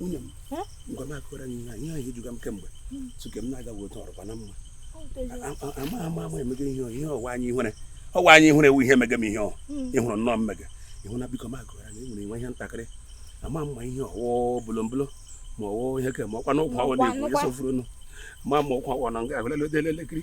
nwunye m ngwa m akọra gị na ihe ahụ ejuga m kemgbe tuke m na-agaghị otu ọrụkwa na mma ama ama ama emega ihe ihe ọwa anyị ihere ọwa anyị ihere ewu ihe emega m ihe ọ ịhụrụ nnọọ mmega ịhụ na biko m akọra gị enwere nwe ihe ntakịrị ama m ma ihe ọ wụ bolombolo ma ọ wụ ihe ke ma ọkwa n'ụkwụ awọ na-ekwu ya sofuru nụ ma ma ọkwa awọ na nga ahụ lelede elekiri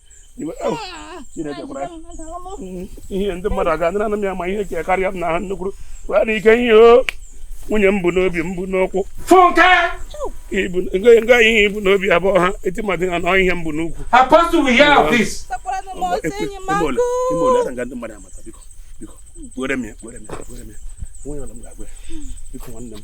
ihe ndị mmadụ aga adịna m ya ma ihe ka karịa m na ha nnukwu wee na ike ihe o nwunye m bu n'obi m bu n'ukwu nga ihe i bu n'obi abụọ ha eti mmadụ ha na ihe m bu n'ukwu were m ya were m ya were m ya onye ọla m ga-agwa ya biko nwanne m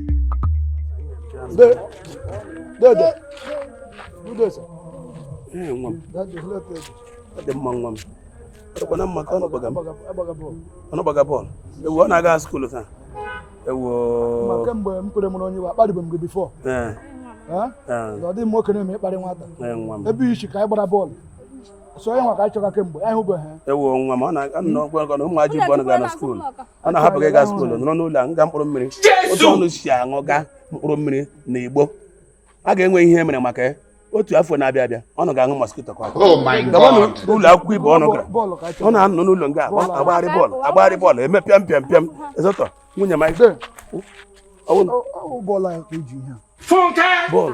dị mma nwa m ọdịkwana mma ka ụnụ gbaga m ụnụ gbaga bọọlụ ewu ọ na-aga skuulu taa ewu kemgbe m kwere mụrụ onye iwe akparịbe m gị bifọ ọ dị m okenye mma ịkparị nwata ebe ị shị ka anyị gbara bọọlụ so onye nwa ka anyị chọga kemgbe anyị hụbeghị ewu nwa m ọ na-anọ ọgwa ọgọ na ụmụ ajị bụ ọ na-aga na skuulu ụnụ ahapụ ịga skuulu nọrọ n'ụlọ aṅụga mkpụrụ mmiri otu ụnụ si aṅụga mkpụrụ mmiri na igbo a ga-enwe ihe mere maka ya otu afọ na-abịa abịa ụnụ ga-aṅụ mosquito coil oh gabanụ n'ụlọ akwụkwọ ibe ụnụ gara ụnụ anọ n'ụlọ nga agbagharị bọọlụ agbagharị bọọlụ eme pịam pịam pịam ezotọ nwunye m bọọlụ